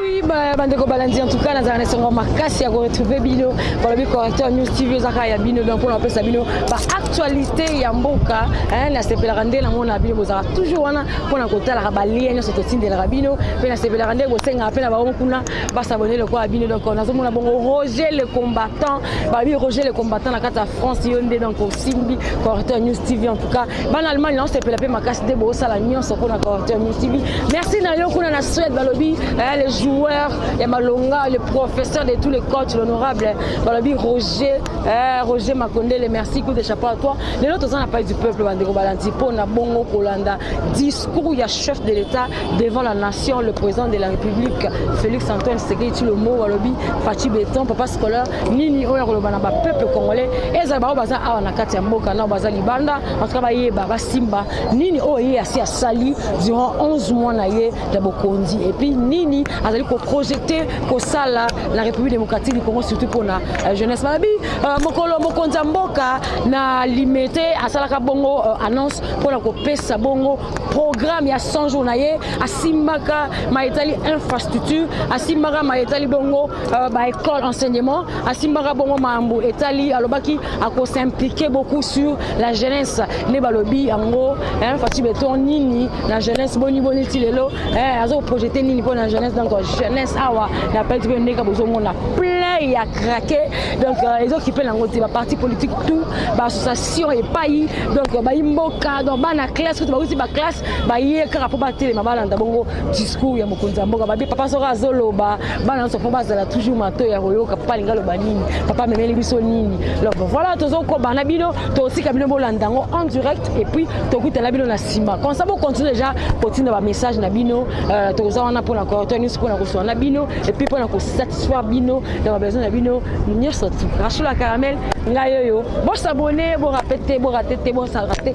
Oui, bah, bande ko balandi en tout cas nazala na esengo makasi ya koretrouve bino balobi correcteur news tv ezaka ya bino donc mpona kopesa bino baactualité ya mboka nasepelaka nde nango na bino bozalaka toujours wana mpona kotalaka balie nyonso totindelaka bino mpe nasepelaka nde kosengaka mpe na bango kuna basabone lokola bino donc nazomona bongo roger le combattant balobi roger le combattant na kati ya france yo nde donc osimbi correcteur news tv en tout cas bana allemagne naosepela mpe makasi nde bosala nyonso mpona quartier musibi merci na yo kuna na suède balobi eh, le joueur ya malonga le professeur de tous les coachs l'honorable balobi roger eh, roger makondele merci coup de chapeau à toi lelo toza na pai du peuple bandeko balandi mpo na bongo kolanda discours ya chef de l'état devant la nation le président de la république félix antoine sekei tshilombo balobi faci beton papa scolaire nini oyo akoloba na bapeuple congolais ezala baoyo baza awa na kati ya mboka nao baza libanda antuka bayeba basimba nini oyo ye asi asali durant 11 mois na ye ya bokonzi epuis nini azali koprojete kosala na république démocratique du congo surtout mpona euh, jeunesse balobi euh, mokolo mokonzi ya mboka na limete asalaka bongo euh, annonce mpona kopesa bongo programme ya 100 jours na ye asimbaka ma etali infrastructure asimbaka ma etali bongo Euh, ba école enseignement asimbaka bongo mambo etali alobaki ako s'impliquer beaucoup sur la jeunesse nde balobi yango hein, fati beton nini na jeunesse boni boni ti lelo hein, azo projete nini mpo na jeunesse donc jeunesse awa na peti mpe ndenge bozomona plein ya craqué donc euh, ezokipe nango te baparti politique tout baassociation epai donc euh, bayi mboka donc bana classe kutu bauti baklasse baye kaka mpo batelema balanda bongo discours ya mokonzi ya mboka babi papa soko azoloba bana nyonso mpo bazala toujours matoi ya koyoka papa alingi aloba nini papa amemeli biso nini donc voilà tozokoba na bino tosika bino bolanda yango en direct et puis tokutana bino na nsima comme ça bocontinue déjà kotinda bamessage na bino euh, tokoza wana mpona koyota nyonso mpona kosola na bino et puis mpona kosatisfaire bino na babesoin na bino nyonso tu rachula caramel ngai oyo bosabone borapete borate te bosarate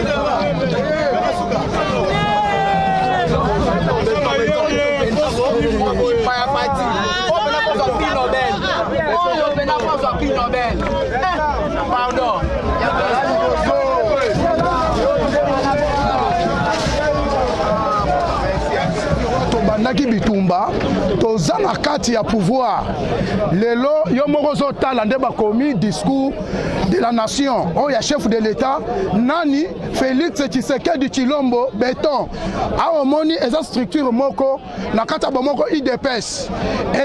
tobandaki bitumba toza na kati ya pouvoir lelo yo moko ozotala nde bakomi discours de la nation oyo oh, ya chef de l'etat nani félix tshisekedi chilombo beton awa omoni eza structure moko na kati ya bomoko idps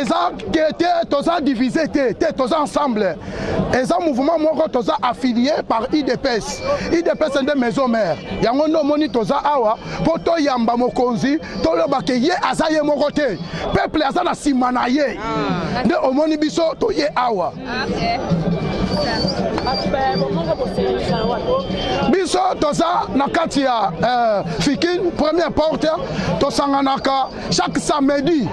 eza ke te toza divise te te toza ensemble eza mouvement moko toza affilié par idps idps nde maison mère yango nde omoni toza awa mpo toyamba mokonzi toloba ke ye aza ye moko te peuple aza na nsima na ye ah. nde omoni biso toye awa biso toza na kati ya euh, fikin première porte tosanganaka chaque samedi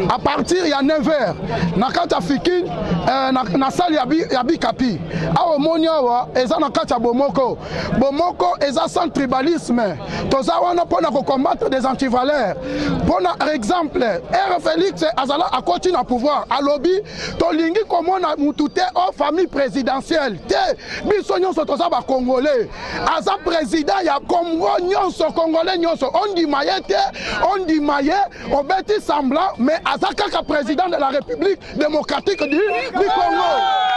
à partir ya 9h na kati ya fikin euh, na, na salle ya, bi, ya bikapi awa omoni awa eza na kati ya bomoko bomoko eza sans tribalisme toza wana mpo na kocombatre des antivaleurs mpo na exemple r félix azala akoti na pouvoir alobi tolingi komona mutu te o famille présidentielle te biso nyonso toza bacongolais aza président ya congo nyonso congolais nyonso ondima ye te ondima ye obeti semblant mais aza kaka président de la république démocratique du, du congo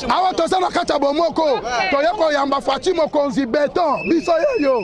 awa toza na kati ya bomoko toye koyamba faci mokonzi beton biso yeyo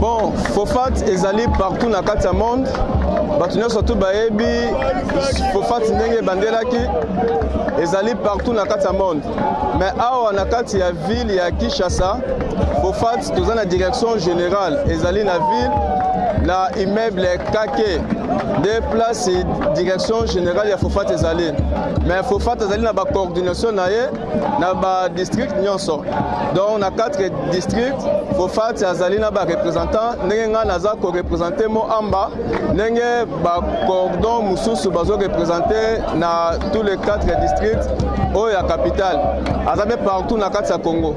Bon, Fofat ezali partout na kati ya monde bato nyonso tu bayebi fofati ndenge ebandelaki ezali partout na kati ya monde mais awa na kati ya ville ya kinshasa fofati toza na direction générale ezali na ville na immeuble kake nde place direction générale ya fofati ezali mais fofati azali na bacoordination na ye na ba district nyonso donc na 4 district fofati azali na ba représentant ndenge ngai naza korepresente moamba ndenge bacordon mosusu bazorepresente na tous les 4 district oyo ya capitale aza mpe partout na kati ya congo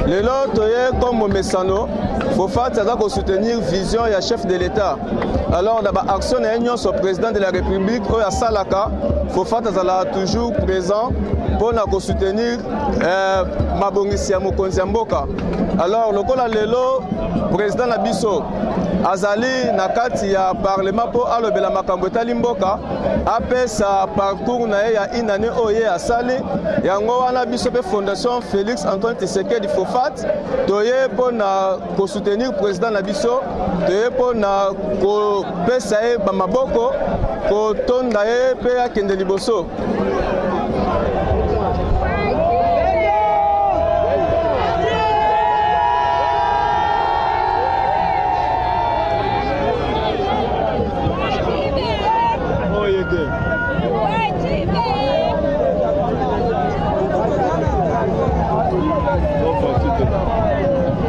lelo toye comme momesano fofati aza kosoutenir vision ya chef de l'état alors na baaction na ye nyonso président de la république oyo asalaka Fofat azalaka toujours présent mpo na kosoutenir eh, mabongisi ya mokonzi ya mboka alors lokola lelo président na biso azali na kati ya parlement mpo alobela makambo etali mboka apesa parcours na ye ya une année oyo ye asali yango wana biso mpe fondation félix antoine tisekedi fofat toye mpo na kosoutenir président na biso toye mpo na kopesa ye bamaboko kotonda ye mpe akende liboso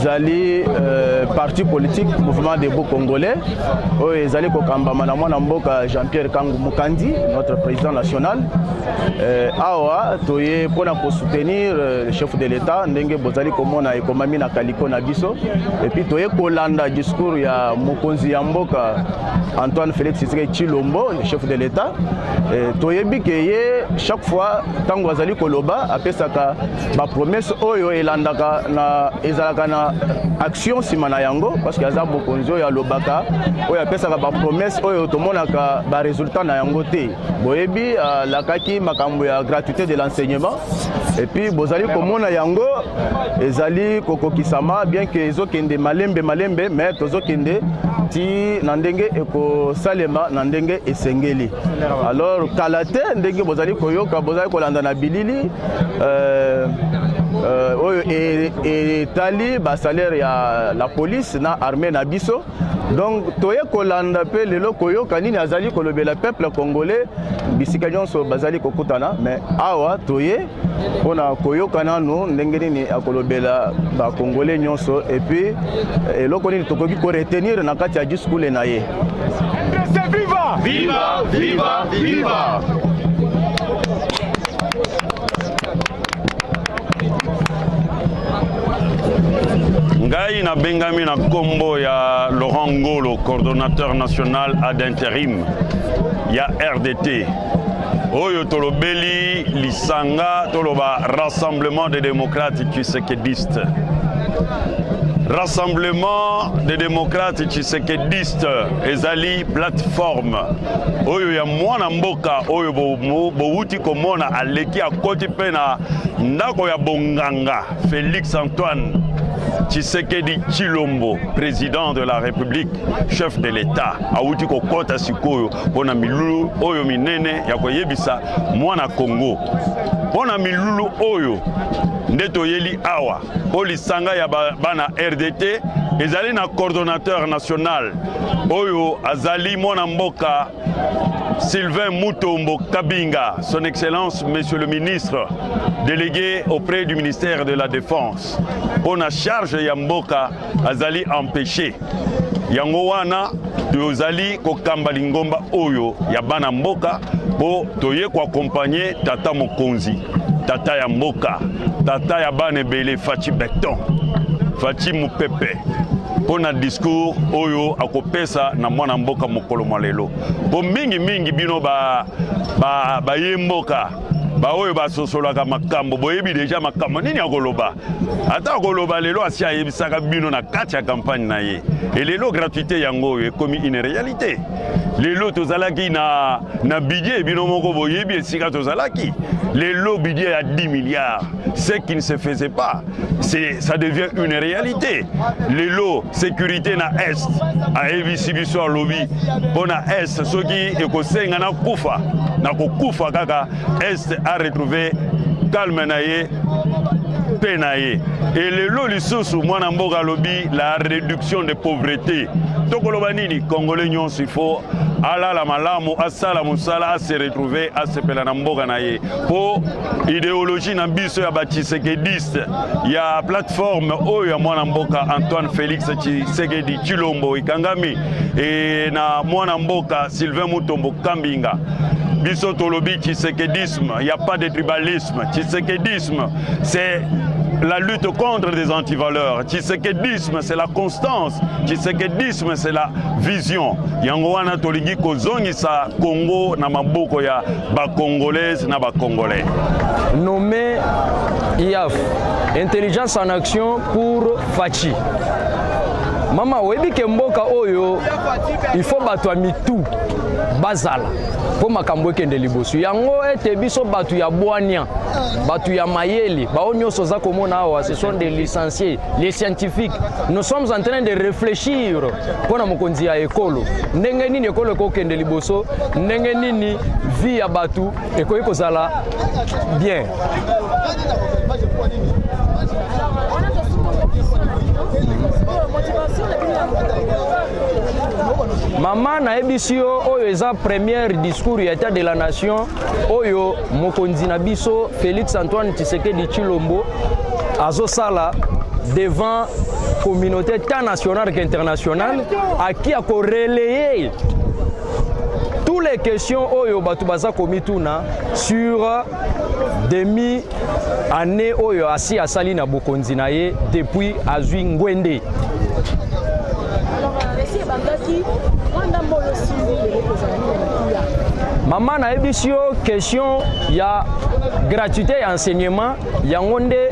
ezali euh, parti politique mouvement des beaux congolais oyo ezali kokambama na mwana mboka jean pierre kangu mokandi notre président national euh, awa toye mpo na kosoutenir euh, le chef de l'état ndenge bozali komona ekomami na mpo na biso epuis toye kolanda discours ya mokonzi ya mboka antoine félix tshisekedi tshilombo le chef de l'état e, toyebi ke ye chaque fois ntango azali koloba apesaka bapromese oyo elandaka na ezalaka na action nsima na yango parce que aza mokonzi oyo alobaka oyo apesaka bapromese oyo tomonaka baresultat na yango te boyebi alakaki euh, makambo ya gratuité de l'enseignement et puis bozali komona yango ezali kokokisama bien que ezokende malembe malembe mais tozokende ti na ndenge ekosalema na ndenge esengeli alors kala te ndenge bozali koyoka bozali kolanda na bilili euh, euh, oyo etali basalaire ya la police na armée na biso donc toye kolanda mpe lelo koyoka nini azali kolobela peuple congolais bisika nyonso bazali kokutana me awa toye mpo na koyoka nano ndenge nini akolobela bacongolais nyonso epuis eh, eloko nini tokoki koretenir na kati ya diskule na ye viva! Viva, viva, viva! ngai nabengami na nkombo ya laurent ngolo coordonnateur national ad interim ya rdt oyo tolobeli lisanga toloba rassemblement des démocrates tshisekediste rassemblement des démocrates tshisekediste ezali plateforme oyo ya mwana mboka oyo bowuti bo komona aleki akoti mpe na ndako ya bonganga Felix Antoine Tshisekedi Chilombo président de la République chef de l'État awuti kokota sikoyo mpo na milulu oyo minene ya koyebisa mwana Congo mpo na milulu oyo nde toyeli awa mpo lisanga ya bana rdt ezali na coordonnateur national oyo azali mwana mboka Sylvain Mutombo Kabinga, son excellence monsieur le ministre délégué auprès du ministère de la Défense, pour la charge ya mboka azali empeshe yango wana tozali kokamba lingomba oyo ya bana mboka mpo toye koakompanye tata mokonzi tata ya mboka tata ya bana ebele faci beton faci mopepe mpo na discours oyo akopesa na mwana mboka mokolo mwa lelo mpo mingimingi bino baye ba, ba mboka baoyo basosolaka makambo boyebi deja makambo nini akoloba ata koloba lelo asi ayebisaka bino na kati ya kampagne na ye e lelo gratuité yango oyo ekomi une réalité lelo tozalaki na, na budget bino moko boyebi esika tozalaki lelo budget ya 10 milliards ce qui ne se faisait pas ça devient une réalité lelo sécurité na est ayebisi biso alobi mpo na est soki ekosenga na kufa na kokufa kaka Est a retrouver calme na ye mpe na ye elelo lisusu mwana mboka alobi la réduction de pauvreté tokoloba nini congolais nyonso ifo alala malamu asala mosala ase retrouve asepela na mboka na ye mpo ideologie na biso ya bachisekediste ya plateforme oyo ya mwana mboka antoine félix chisekedi chilombo ekangami e na mwana mboka sylvain mutombo kambinga biso tolobi tshisekedisme il n'y a pas de tribalisme tshisekedisme c'est la lutte contre des antivaleurs tshisekedisme c'est la constance tshisekedisme c'est la vision yango wana tolingi kozongisa congo na maboko ya bacongolaise na bacongolais nommé iaf intelligence en action pour fachi mama oyebi ke mboka oyo il faut bato ya mitu bazala mpo makambo ekende liboso yango ete biso bato ya bwania bato ya mayele bao nyonso oza komona awa ce sont des licenciés les scientifiques nous sommes en train de réfléchir mpo na mokonzi ya ekolo ndenge nini ekolo ekokende liboso ndenge nini vie ya bato ekoki kozala bien mama nayebisi yo oyo eza première discours ya etat de la nation oyo mokonzi na biso félix antoine tshisekedi tshilombo azosala devant communauté tant nationale qu'internationale aki akorelaye tous les questions oyo bato baza komituna sur demi année oyo asi asali na bokonzi na ye depuis azwi ngwende mama nayebisi yo question ya gratuité ya enseignement yango nde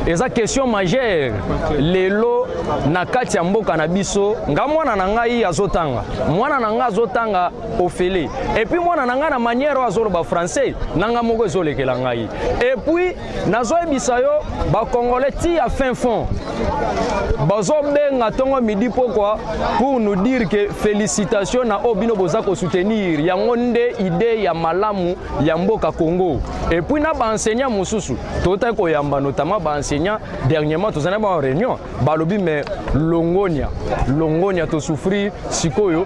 eza question majeure lelo na kati ya mboka na biso nga mwana na ngai azotanga mwana na ngai azotanga ofele epuis mwana na ngai na manière oyo azoloba français na ngai moko ezolekela ngai epuis nazoyebisa yo bacongolais ti ya fin fond bazobenga ntongo midi pokwa pour nous dire ke félicitation na oyo bino boza kosoutenir yango nde idee ya malamu ya mboka congo epuis na baenseignant mosusu totaki koyamba notamment baenseignant dernièrement tozali na ba réunion balobi me longonia longonia tosouffrir sikoyo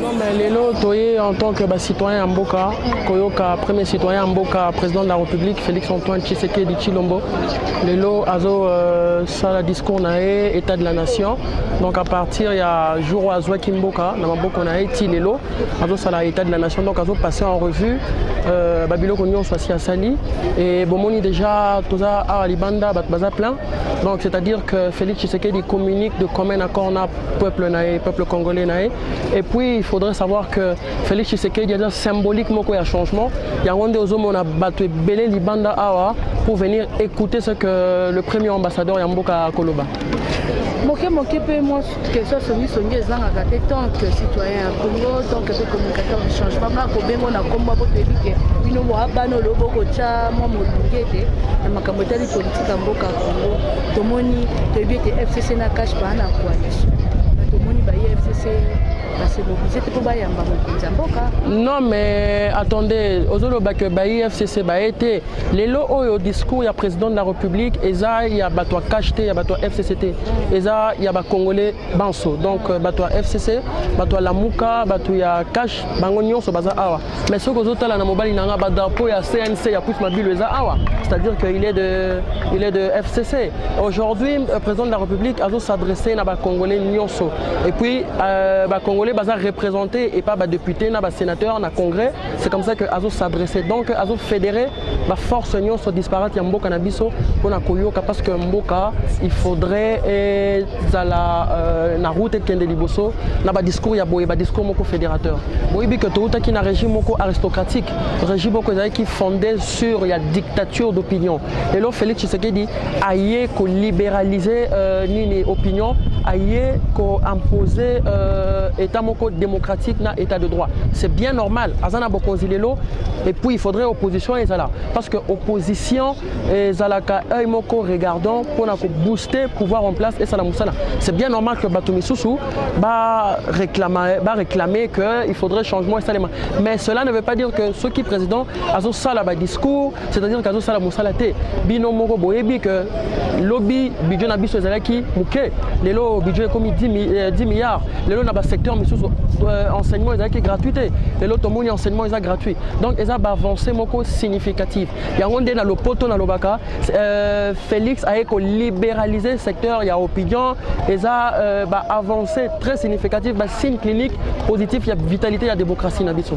Non mais lelo toye en tant que ba citoyen ya mboka koyoka premier citoyen ya mboka président de la République Félix Antoine Tshisekedi Tshilombo lelo azo euh, sala discours na ye état de la nation donc à partir ya jour oyo azwaki mboka na maboko na ye ti lelo azo sala état de la nation donc azo passer en revue euh, ba biloko nyonso asi asali et bomoni déjà toza awa libanda bato baza plein donc c'est-à-dire que Félix Tshisekedi communique de commun accord na peuple na ye peuple congolais na ye et puis il faudrait savoir que félix tshisekedi aza symbolique moko ya changement yango nde ozomona bato ebele libanda awa pour venir écouter ce que le premier ambassadeur ya mboka akoloba moke moke mpe mwa question songisongi ezangaka te tant que citoyen ya congo tant que mpe communicateur du changement nga kobengo na nkombo po toyebi ke bino boabana olobo kotya mwa molunge te na makambo etali politika mboka congo tomoni toyebi ete fcc na cash baa na coalition na tomoni baye fcc basemobilize te mpo bayamba mokonzi ya mboka non mais attendez ozoloba ke bayi fcc baye te lelo oyo discours ya président de la république eza ya bato ya cash te ya bato ya fcc te eza ya bacongolais banso donc euh, bato ya fcc bato ya lamuka bato ya cash bango nyonso baza awa Mais soki ozotala na mobali na nga ba drapeau ya CNC ya Prince Mabilu eza awa, c'est-à-dire que il est de il est de FCC. Aujourd'hui, euh, président de la République azo s'adresser na ba Congolais nyonso. Et puis euh, ba Congolais baza représentés et pas ba députés na ba sénateurs na Congrès. C'est comme ça que azo s'adresser. Donc azo fédérer ba force nyonso disparate ya mboka na biso mpona koyoka parce que mboka il faudrait ezala euh, na route ekende liboso na ba discours ya boye ba discours moko fédérateur boyebi que toutaki na régime moko aristocratique régime moko ezalaki fondé sur ya dictature d'opinion lelo félix tshisekedi aye ko liberaliser euh, nini opinion aye ko imposer euh, état moko démocratique na état de droit c'est bien normal aza na bokonzi lelo et puis il faudrait opposition ezala parce que opposition ezalaka œil moko regardant mpona ko booster pouvoir en place esala mosala c'est bien normal que bato misusu ba réclamer, ba réclamer que il faudrait changement esalema mais cela ne veut pas dire que soki président azosala badiscours c'est à dire kazo sala musala te bino moko boyebi que lobi budget na biso ezalaki muke lelo budget ekomi 10, mi, eh, 10 milliards lelo na ba secteur misusu euh, enseignement ezalaki gratuit te lelo tomoni enseignement eza gratuit donc eza ba avancée moko significative yango nde na lopoto na lobaka euh, Félix aye ko libéraliser secteur ya opinion eza euh, ba avancée très significative ba signe clinique positif ya vitalité ya démocratie na biso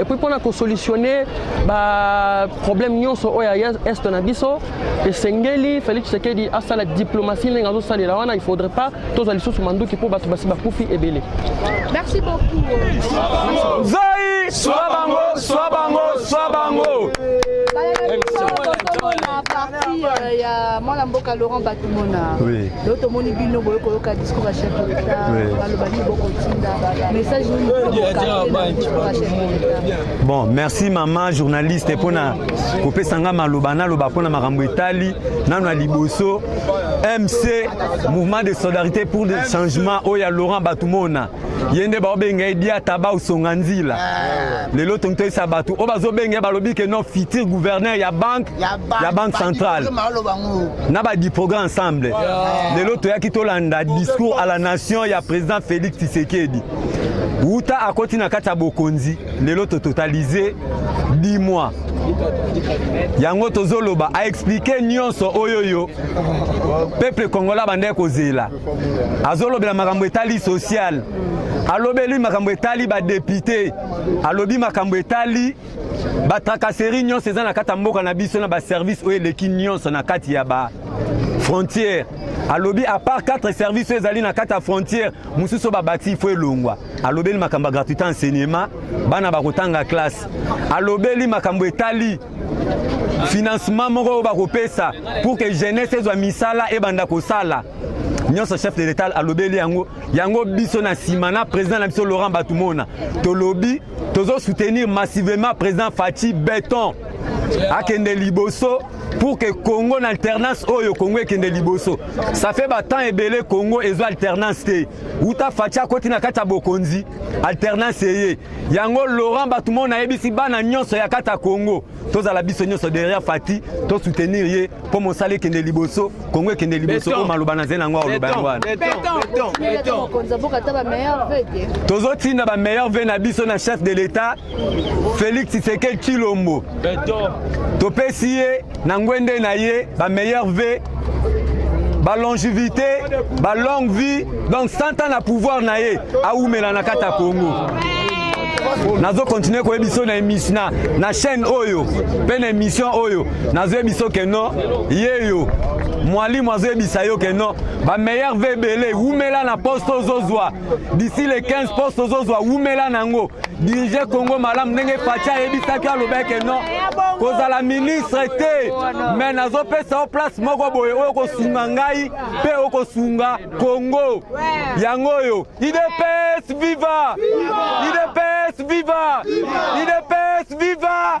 et puis mpona kosolutionne baproblème nyonso oyo ya est na biso esengeli félix tshisekedi asala diplomatie ndenge azosalela wana il faudrait pas tozwa lisusu manduki mpo bato basi bakufi ebele merci beaucoup zai swa bango swa bango swa bango parti ya mwana mboka laurent komona lelo tomoni bino boye koyoka discours ya chef d'etat baloba nini bokotinda message bon merci mama journaliste mpona kopesa ngai maloba naloba mpona makambo etali nano ya liboso mc mouvement de solidarité pour le changement oyo ya laurent batumona ye nde baobenga ye diata baosonga nzila ah. lelo tongi toyesa bato oyo bazobenga ye balobi ke no futur gouverneur ya banque ya banque centrale na ba diproga ensemble lelo toyaki tolanda discours à la nation ya président Félix Tshisekedi wuta akoti na kati ya bokonzi lelo tototalize 10 mois yango tozoloba aexplike nyonso oyo yo peuple congolais abandaki kozela azolobela makambo etali sociale alobeli makambo etali badepute alobi makambo etali Ba tracasserie nyonso eza na kati ya mboka na biso na ba service oyo eleki nyonso na kati ya ba frontière alobi apart 4 service oyo ezali na kati ya frontière mosusu babati ifo elongwa alobeli makambo ya gratuité enseignement bana bakotanga classe alobeli makambo etali financement moko oyo bakopesa pour que jeunesse ezwa misala ebanda kosala nyonso chef de l'etat alobeli yango yango biso na nsima na président na biso laurent batumona tolobi tozo soutenir massivement président Fatshi Beton akende liboso pour que Congo na alternance oyo Congo ekende liboso ça fait ba temps ebele Congo ezo alternance te uta Fatshi akoti na kati ya bokonzi alternance eye yango Laurent Batumona ayebisi bana nyonso ya kati ya Congo tozala biso nyonso derrière Fati to soutenir ye mpo mosala ekende liboso Kongo ekende liboso oyo maloba na zeli yango oloba yango wana tozotinda ba meilleur ve na biso na chef de l'etat Félix Tshisekedi Tshilombo topesi ye na ngwende na ye ba meilleur ve ba longevité ba longue vie donc 100 ans na pouvoir na ye awumela na kati ya congo nazo continue koyebi biso na émission na, na chaîne oyo mpe na émission oyo nazoyebi biso ke no ye yo mwalimu azoyebisa yo ke no bameilleur ve ebele wumela na poste ozozwa d'ici le 15 poste ozozwa wumela nango dirige congo malamu ndenge faci ayebisaki alobeke non kozala ministre te me nazopesa yo place moko boye oyo kosunga ngai mpe okosunga congo yango oyo idps viva idps viva idps viva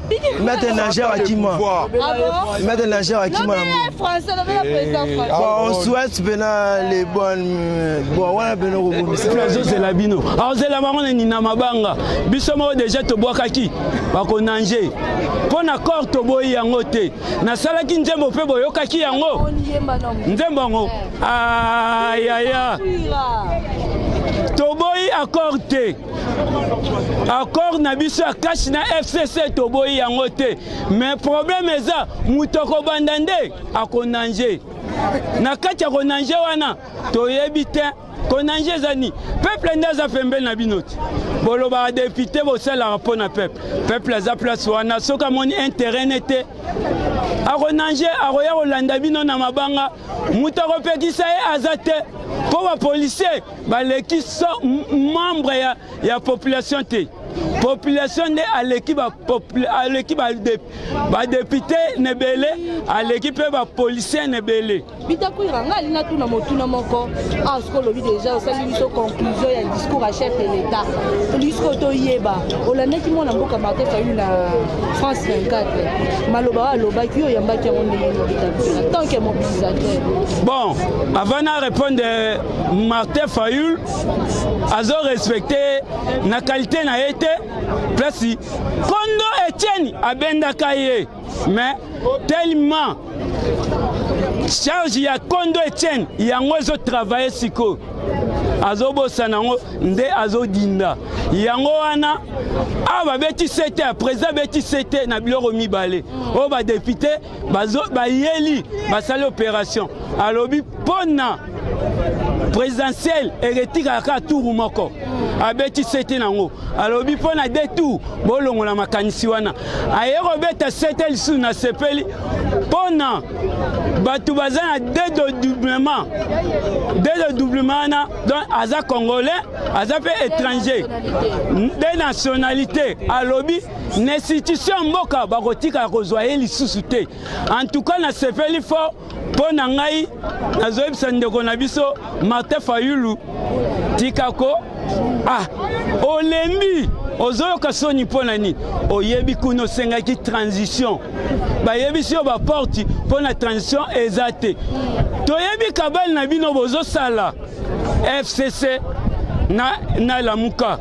Maître Nager Wakima. Maître Nager Wakima. Bon, on souhaite pena les bonnes. Bon, wana pena kobomisa. Plazo c'est la bino. Alors c'est la marone ni na mabanga. Biso mo déjà to bwakaki. Ba ko nanger. Mpo na corps to boyi yango te. Nasalaki nzembo mpe boyokaki yango. Nzembo yango. Ayaya. Toboyi accord te. accord na biso ya kashi na fcc toboyi yango te mais problème eza moto akobanda nde akonange na kati ya konange wana toyebi te konange eza nini peuple nde aza pembeni na bino te bolobaka depute bosalaka mpo na peuple peuple aza place wana soki amoni interet ne te akonange akoya kolanda bino na mabanga moto akopekisa ye aza te mpo bapolisier baleki 100 membre ya, ya population te population nde aleki aleki badepute na ebele aleki mpe bapolisier na ebele bitakwira ngai alinga tuna motuna moko awa ah, siko olobi deja osali biso conclusion ya discours ya chef de l'état olingi sikoyo toyeba olandaki mwana mboka martin fayulu na france 24 maloba oyo alobaki yo oyambaki yango ndenge bitakwira tant que mobilisateur bon avant na répondre Martin Fayul azo respecte na kalite na ye te plasi kondo Etienne abendaka ye mais tellement charge ya kondo Etienne yango ezo travaille sikoyo azobosana yango nde azodinda yango wana awa babeti sete ya président abeti sete na biloko mibale oyo badepute bayeli basali operation alobi mpona présidentielle eketikaka kaka turu moko abeti sete nango alobi mpo na de tour bolongola makanisi wana aye kobeta sete lisusu na sepeli mpo na bato baza na dedoublement dedoublement wana donc aza congolais aza mpe étranger de nationalité alobi na institution ya mboka bakotikala kozwa ye lisusu te antuka nasepeli fort mpo na ngai nazoyebisa ndeko na biso martin fayulu tika ko ah olembi ozoyoka soni mpo na nini oyebi kuna osengaki transition bayebisi yo baporti mpo na transition eza te toyebi kabale na bino bozosala fcc na, na lamuka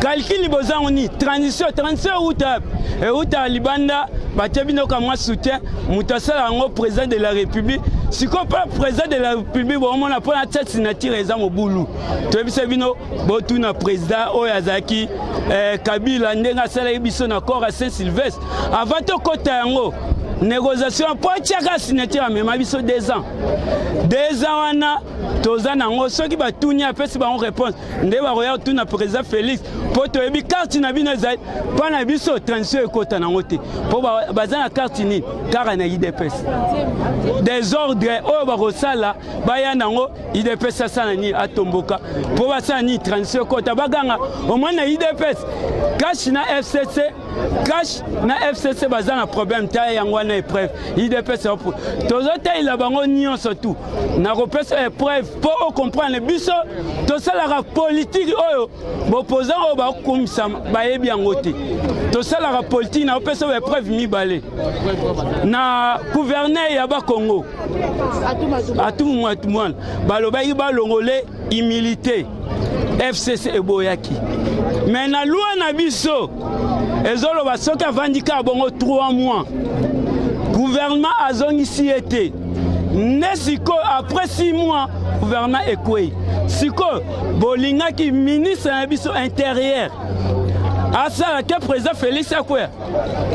kalkili boza yango nini transition transition euta euta libanda batie bino kamwa soutien moto asala yango président de la république sikoyo mpe président de la république bomona mpo na tia signature eza mobulu toyebisa bino botuna président oyo azalaki eh, kabila ndenge asalaki biso na corps ya saint sylvestre avant tokɔta yango négociation mpo atyaka signature amema biso deux ans deux ans wana toza nango soki batuni apesi bango réponse nde bakoya kotuna président félix mpo toyebi karte na bino ezali mpo na biso transition ekota nango te mpo baza na karte nini kaka na idps desordre oyo bakosala baya nango idps asala nini atomboka mpo basala nini transition ekota baganga omoi na idps cash na fcc cash na fcc baza na problème ta yango wana epreuve idps tozotalela bango nyonso tu nakopesa epreuve mpo o comprendre biso tosalaka politiki oyo bopozan oyo bakokumisa bayebi yango te tosalaka politiki na opesa oyo epreuve mibale na gouverneur ya bakongo atumumwatumwana balobaki balongole humilité fcc eboyaki me na lwa na biso ezoloba soki avandi kaka bongo 3 mois gouvernement azongisi ye te nde sikoyo après 6 mois gouvernement ekwei sikoyo bolingaki ministre na biso intérieur asala te président félix akweya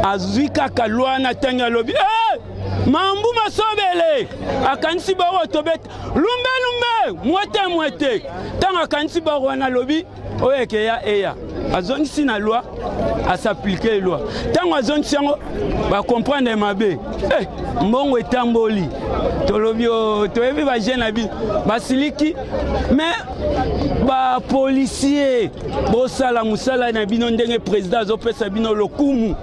azwi kaka lwa na ntango alobi hey! Eh! mambu masobele akanisi baoyo tobeta lumbe lumbe mwete mwete ntango akanisi baoyo wana alobi oyo ekeya eya azongisi na loi asaplike loi ntango azongisi yango bakomprendre mabe eh, mbongo etamboli tolobi oh, toyebi bajeune na bino basiliki mais bapolisier bosala mosala na bino ndenge président azopesa bino lokumu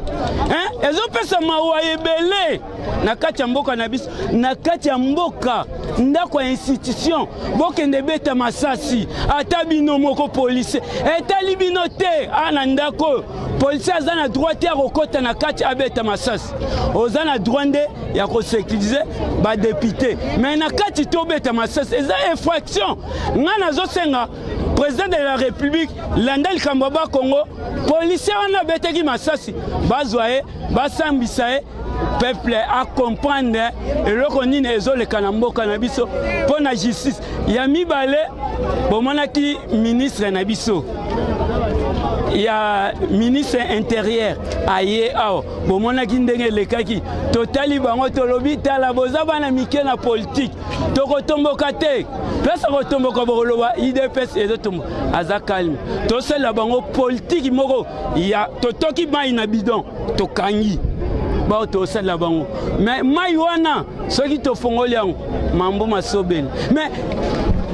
ezopesa mawa ebele na kati ya mboka na biso na kati ya mboka ndako ya institution bokende beta masasi ata bino moko polise etali bino te a na ndako oyo polise aza na droit te ya kokɔta na kati abeta masasi oza na droit nde ya kosekirize badepute me na kati tobeta masasi eza infraction ngai nazosenga président de la république landa likambo ya bakongo polise wana abetaki masasi bazwa ye basambisa ye peuple acomprendre eloko nini ezoleka na mboka na biso mpo na justice ya mibale bomonaki ministre na biso ya ministre interieur aye awa bomonaki ndenge elekaki totali bango tolobi tala boza bana mike na politike tokotomboka te place akotomboka bokoloba idps ezotomboka aza kalme tosalela bango politiki moko ya totoki mai na bidon tokangi bao tosalela bango me mai wana soki tofongoli yango mambo masobeli me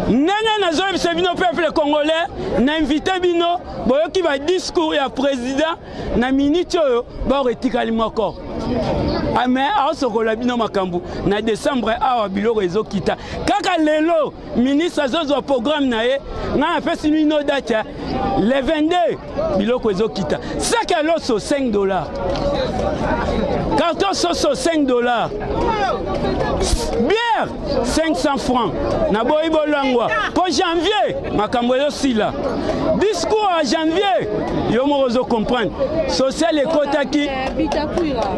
ndenge nazoyebisa bino peuple congolais na invite bino boyoki badiscours ya président na miniti oyo baoko etikali moko ah, me aosokola bino makambo na décembre awa biloko ezokita kaka lelo ministre azozwa programme na ye ngai napesi mino date ya le 22 biloko ezokita saki ya loso 5 dollar carton soso 5 dollar bière 500 francs naboyi bolangwa mpo janvier makambo ezosila discours ya janvier yo moko ozo comprendre social ekotaki bitakwira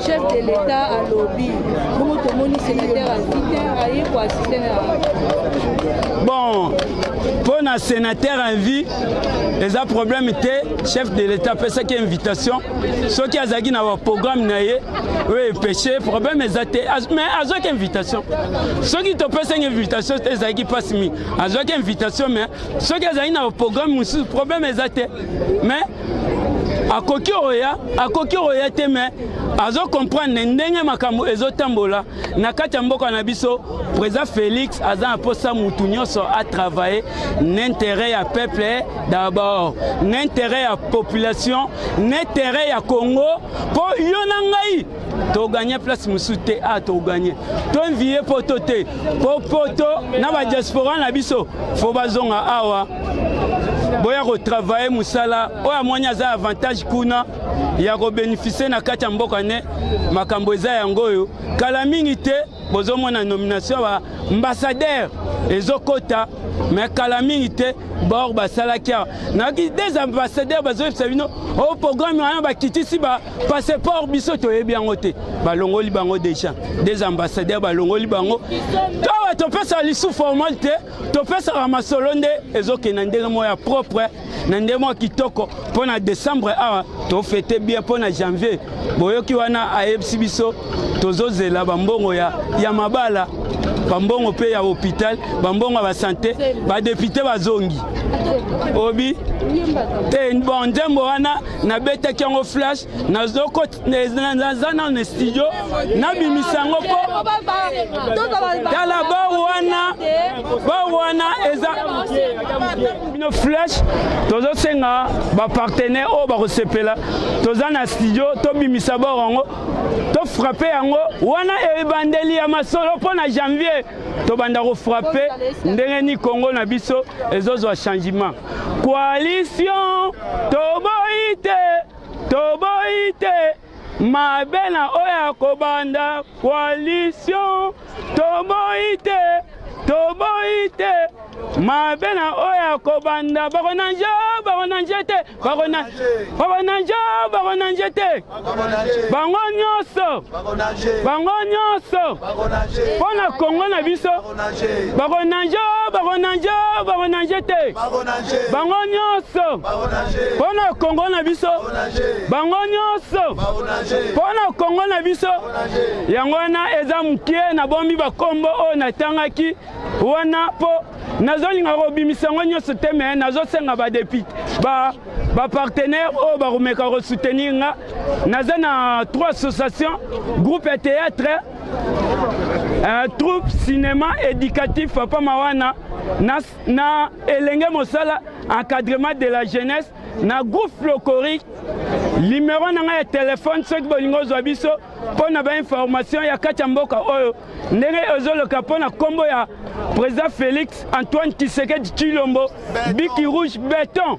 chef de l'etat alobi bongo tomoni sénateur invité aye koasiste na bon mpo na sénateur envi eza problème te chef de l'état apesaki invitation soki azalaki na baprogramme na ye oyo empêche problème eza te mais azwaki invitation soki topesaki invitation te ezalaki mpasi mingi azwaki invitation mais soki azalaki na baprogramme mosusu problème eza te mais akoki oya akoki oya te me azo comprendre ndenge makambo ezotambola na kati ya mboka na biso président félix aza na posa mutu nyonso atravaille na intérêt ya peuple d'abord na intérêt ya population na intérêt ya congo mpo yo na ngai toganye place mosusu te a ah, toganye toinvie poto te po poto na badiaspora na biso fo bazonga awa boya kotravaille mosala oyo amoni aza avantage kuna ya kobeneficie na kati ya mboka ne makambo eza yango oyo kala mingi te bozomona nomination ya baambassadeur ezokota me kala mingi te bor basalaki awa nayaki des ambassadeur bazoyebisa bino o oh, programme wana bakitisi ba Passeport biso toyebi yango te, balongoli bango deja des ambassadeurs balongoli bango towa topesa lisu formal te, topesaka masolo nde ezokenda ndenge moko ya propre na ndenge moko kitoko mpo na décembre awa tofete bien mpo na janvier boyoki wana ayebisi biso tozozela bambongo ya, ya mabala bambongo mpe ya hôpital bambongo ya basante badepute bazongi obi te bon nzembo wana nabetaki yango flash nazoko naza nano na studio nabimisa yango mpo tala ba wana ba wana eza bino flash tozosenga bapartenaire oyo bakosepela toza na studio tobimisa bor yango tofrape yango wana ebandeli ya masolo mpo na janvier tobanda kofrape ndenge ni kongo na biso ezozwa changement Coalition toboyi te, toboyi te mabe na oyo ya kobanda coalition toboyi te, toboyi te mabe na oyo ya kobanda bakonanje bakonanje te bakonanje bakonanje te bango nyonso bango nyonso mpo na kongo na biso bakonanje o bakonanje o bakonanje te bango nyonso mpo na kongo na biso bango nyonso mpo na kongo na biso yango wana eza moke na bombi bakombo oyo natangaki wana mpo nazolinga kobimisa yango nyonso te me nazosenga badepute ba bapartenaire oyo bakomeka kosoutenir nga naza na trois association groupe ya théâtre Uh, troupe cinéma éducatif papa mawana na, na elenge mosala encadrement de la jeunesse na groupe flocorique limero na ngai ya telefone soki bolingi ozwa biso mpo na bainformation ya kati ya mboka oyo ndenge ezoloka mpo na nkombo ya président félix antoine kisekedi tshilombo biki rouge beton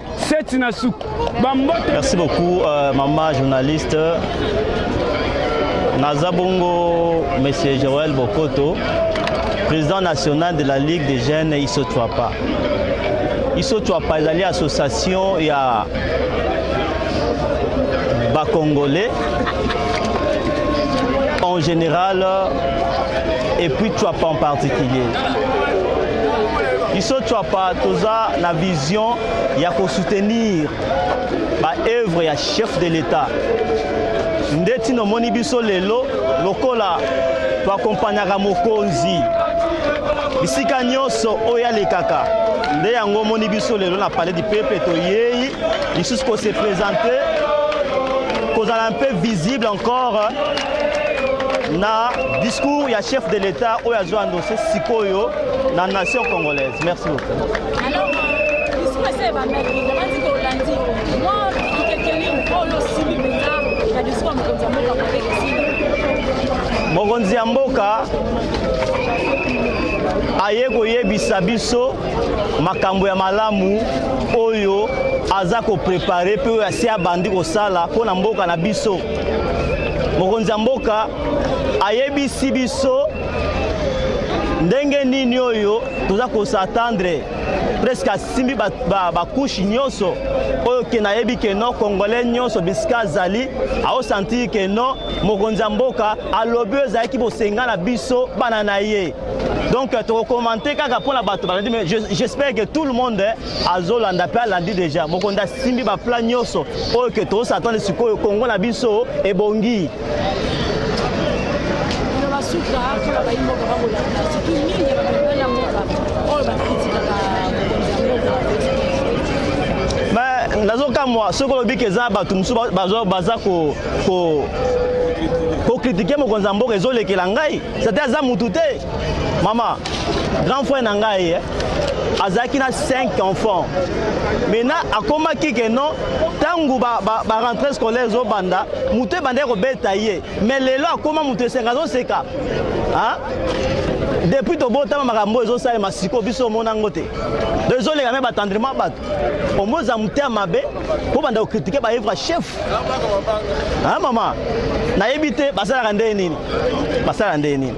Seti na suku. Bambote. Merci beaucoup euh, maman journaliste. Naza bongo monsieur Joël Bokoto, président national de la Ligue des jeunes Isotwapa. Isotwapa ezali association ya ba congolais en général et puis Twapa en particulier. Iso Twapa toza na vision Vision ya ko soutenir ba œuvres ya chef de l'État nde ntina omoni biso lelo lokola toakompanyaka mokonzi bisika nyonso oyo alekaka nde yango omoni biso lelo na palais du peuple toyei lisusu ko se présenter kozala un peu visible encore na discours ya chef de l'État oyo azwa andose sikoyo na nation congolaise merci beaucoup mokonzi ya mboka aye koyebisa biso makambo ya malamu oyo aza koprepare mpe oyo asi abandi kosala mpo na mboka na biso mokonzi ya mboka ayebisi biso ndenge nini oyo toza ko s'attendre presque asimbi bakushe nyonso oyo ke nayebi ke no congolais nyonso bisika azali aosanti ke no mokonzi ya mboka alobi oyo ezalaki bosenga na biso bana na ye donc tokokomante kaka mpo na bato balandi mais j'espère que tout le monde azolanda mpe alandi déjà mokonzi asimbi baplan nyonso oyo ke toosatande sikoyo kongo na biso ebongi nazokamwa soki olobi ke eza bato mosusu baza ko kokritike mokonzi ya mboka ezolekela ngai sate aza mutu te Mama, grand frère na ngai eh, azalaki na 5 enfants. Maintenant akomaki ke non ntango ba, ba, ba rentrée scolaire ezobanda moto ebandaki kobeta ye mais lelo akoma moto esenga azoseka ah? depuis tobotama makambo oyo ezosalema siko biso omona yango te do ezoleka me batendrement bato omoza motema mabe bobanda kokritike baevre chef a mama nayebi te basalaka ndenge nini basalaka ndenge nini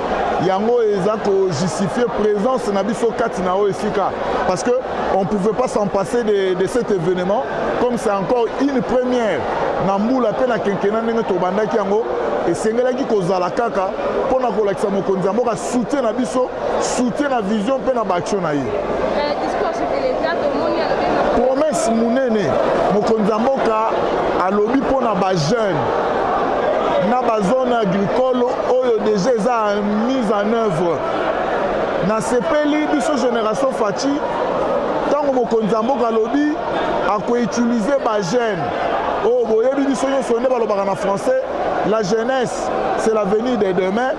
yango eza ko justifier présence na biso kati na oyo esika parce que on pouvait pas s'en passer de, de cet événement comme c'est encore une première na mbula mpe na kenkena ndenge tobandaki yango esengelaki kozala kaka mpo na kolakisa mokonzi ya mboka soutien na biso soutien na vision mpe na baaction na ye promesse monene mokonzi ya mboka alobi mpo na bajeune na bazone agricole oyo deja eza mise en œuvre nasepeli biso génération faci ntango mokonzi ya mboka alobi akoutilize bajeune oyo oh, boyebi biso nyonso nde balobaka na français la jeunesse c'est l'avenir de demain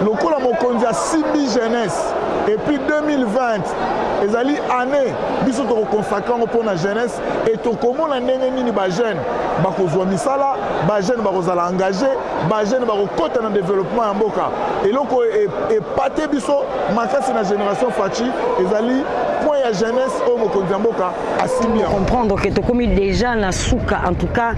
lokola mokonzi asimbi jeunesse epuis 2020 ezali année biso tokokonsakre yango mpo na jeunesse e tokomona ndenge nini bajeune bakozwa misala bajeune bakozala engage bajeune bakokɔta na développement ya mboka eloko epate e, e biso makasi na génération faci ezali point ya jeunesse oyo mokonzi ya mboka asimbi yango comprendre ke tokomi déjà na suka en tout cas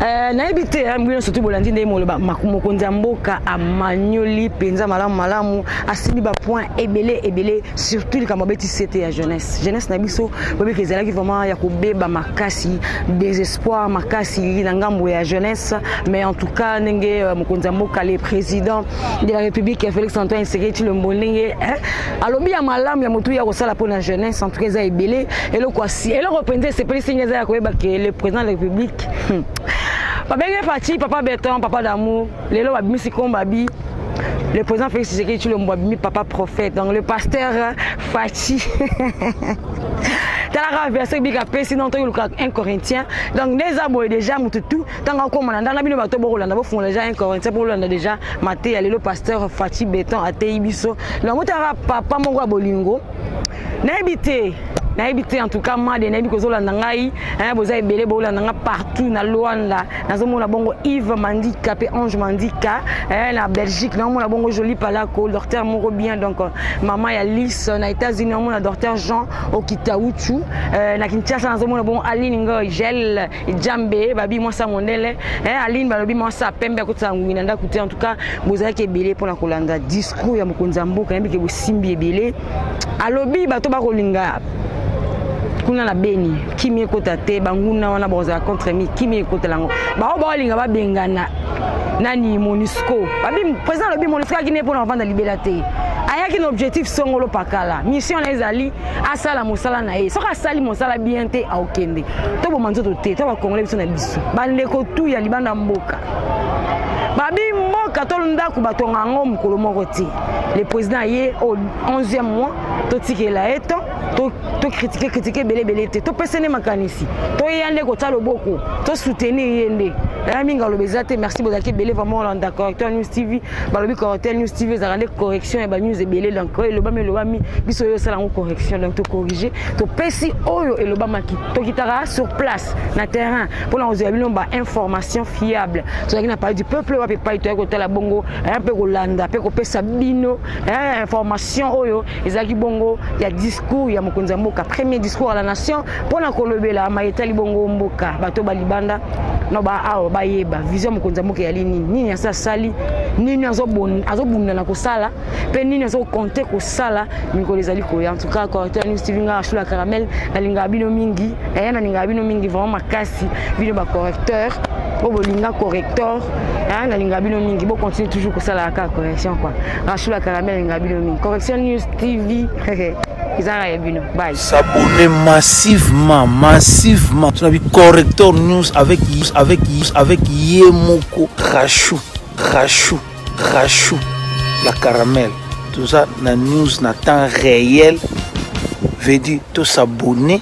euh, nayebi te hein, bino surtout bolandi ndenge moloba mokonzi ya mboka amanyoli mpenza malamu malamu asimbi bapoint ebele ebele surtout likambo abeti sete ya jeunesse jeunesse na biso bobiki ezalaki vraiment ya kobeba makasi désespoir makasi na ngambo ya jeunesse mais en tout cas ndenge euh, mokonzi ya mboka le président de la république félix antoine seketi lombo ndenge alobi ya malamu ya motu ya kosala mpo na jeunesse en tout cas eza ebele eloko eloko mpenza esepelisi nge eza ya koyeba ke le président de la république hmm. babenge parti papa beton papa d'amour lelo babimisi kombo abi le président Félix Tshisekedi Tshilombo abimi papa prophète donc le pasteur euh, Fatshi talaka verset biblique apesi non toyoluka 1 corinthien donc nde eza boye déjà motu tu ntango akoma na ndanga bino bato bokolanda bofungola déjà 1 corinthien mpo bolanda déjà mateya lelo pasteur Fatshi Beton ateyi biso donc botalaka papa moko ya bolingo nayebi te nayebi te en tout cas made nayebi kozolanda ngai eh, boza ebele bolanda ngai partout na luanda nazomona bongo yves mandika mpe ange mandika eh, na belgique naomona bongo joli palako docteur moko bien donc euh, mama ya lis na états-unis naomona docteur jean okitauchu eh, na kinshasa nazomona bongo aline ngoy gel jambe babi mwasi ya mondele eh, aline balobi mwasi ya pembe akotisa ngungi na ndako te en tout cas bozalaki ebele mpo na kolanda discours ya mokonzi ya mboka yebi ke bosimbi ebele alobi bato bakolinga kuna na beni kimi ekota te banguna wana bakozala contre mi kimi ekotela yango bango baolinga babengana nani monisco babi président alobi monisco ayaki ne mpo na kovanda libela te ayaki na objectif songolo pakala mission na ezali asala mosala na ye soki asali mosala bien te aokende toboma nzoto te to bakongole biso na biso bandeko tu ya libanda mboka babi mboka to ndako batonga yango mokolo moko te le président aye au 11e mois totikela ye to tokritike kritike ebele ebele te topesa nde makanisi toyeya nde kotya loboko tosoutenir ye nde naya mingi aloba eza te merci bozalaki ebele vraiment olandaka acteur news tv balobi correcteur news tv ezalaka nde correction ya banews ebele donc oyo elobami elobami biso oyo osala yango correction donc tocorrige topesi oyo elobamaki tokitaka sur place na terrain mpona kozwa bino bainformation fiable tozalaki na palais du peuple wapi epai toyaki kotala bongo mpe kolanda mpe kopesa bino information oyo ezalaki bongo ya discours ya mokonzi ya mboka premier discours à la nation mpo na kolobela maye etali bongo mboka bato ba libanda na baawa bayeba vision ya mokonzi ya mboka eyali nini nini asi asali nini azobunda na kosala mpe nini azokonte kosala mikolo ezali koya antuka correcteur news tv nga ashula caramel nalingaka bino mingi eye eh, nalingaka bino mingi vraiment makasi bino bacorrecteur oyo bolinga correcteur eh, nalingaka bino mingi bocontinue toujours kosalaka kaka correction kua Rashula Karami alinga bino mingi. Correction News TV. ezanga ya bino bye s'abonner massivement massivement tuna bi corrector news avec avec avec ye moko rachou rachou rachou la caramel toza na news na temps réel veut dire to s'abonner